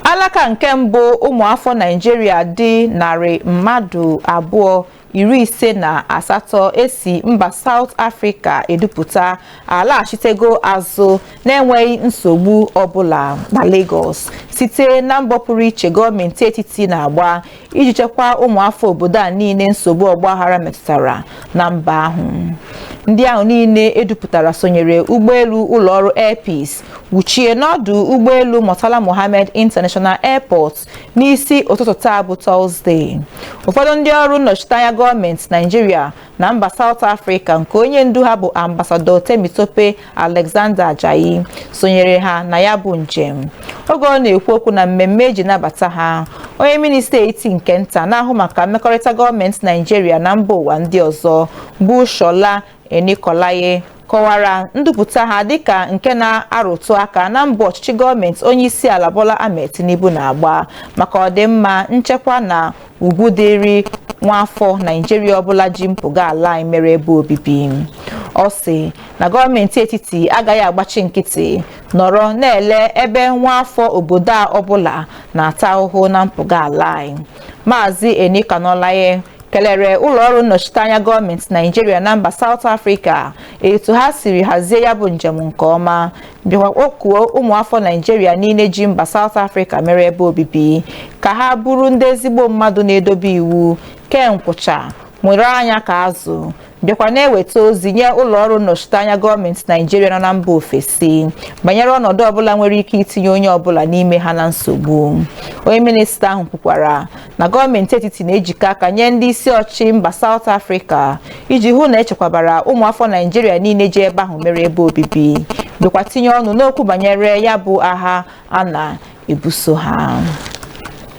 alaka nke mbụ ụmụafọ naijiria dị narị mmadụ abụọ iri ise na asatọ esi mba South Africa edupụta alaghachitego azụ na-enweghị nsogbu ọbụla na Lagos site na mbọ pụrụ iche gọọmenti etiti na-agba iji chekwaa ụmụafọ obodo a niile nsogbu ọgbaghara metụtara na mba ahụ ndị ahụ niile edupụtara sonyere ụgbọelu ụlọọrụ Air Peace wuchie n'ọdụ ụgbọelu Murtala Muhammed International Airport n'isi ụtụtụ taa bụ Tọzdee ụfọdụ ndị ọrụ nnọchiteanya gọọmenti Naijiria na mba South Africa nke onye ndu ha bụ ambasadọ Temitope Alexander Ajayi sonyere ha na ya bụ njem oge ọ na-ekwu okwu na mmemme eji nabata ha onye minista etiti nke nta na-ahụ maka mmekọrịta gọọmenti Naijiria na mba ụwa ndị ọzọ bụ Shola Enikolaye kọwara ndupụta ha dịka nke na-arụtụ aka na mbọ ọchịchị gọọmenti onyeisiala Bola Ahmed Tinubu na-agba maka ọdịmma nchekwa na ugwu dịịrị nwaafọ Naijiria ọbụla ji mpụga ala anyị mere ebe obibi ọ sị na gọọmenti etiti agaghị agbachi nkịtị nọrọ na-ele ebe nwaafọ obodo a ọbụla na-ata ahụhụ na mpụga ala anyị Maazị Enikanolaiye kelere ụlọọrụ nnọchiteanya gọọmenti naijiria na mba South Africa etu ha siri hazie ya bụ njem nke ọma bịakwa kpọkuo ụmụafọ naijiria niile ji mba South Africa mere ebe obibi ka ha bụrụ ndị ezigbo mmadụ na-edobe iwu kee nkwụcha nwere anya ka azụ bịakwa na-eweta ozi nye ụlọọrụ nnọchiteanya gọọmenti naijiria nọ na mba ofesi banyere ọnọdụ ọbụla nwere ike itinye onye ọbụla n'ime ha na nsogbu onye minista ahụ kwukwara na gọọmenti etiti na-ejikọ aka nye ndị isi ọchịchị mba South Africa iji hụ na echekwabara ụmụafọ Naijiria niile ji ebe ahụ mere ebe obibi bịakwa tinye ọnụ n'okwu banyere ya bụ agha a na-ebuso ha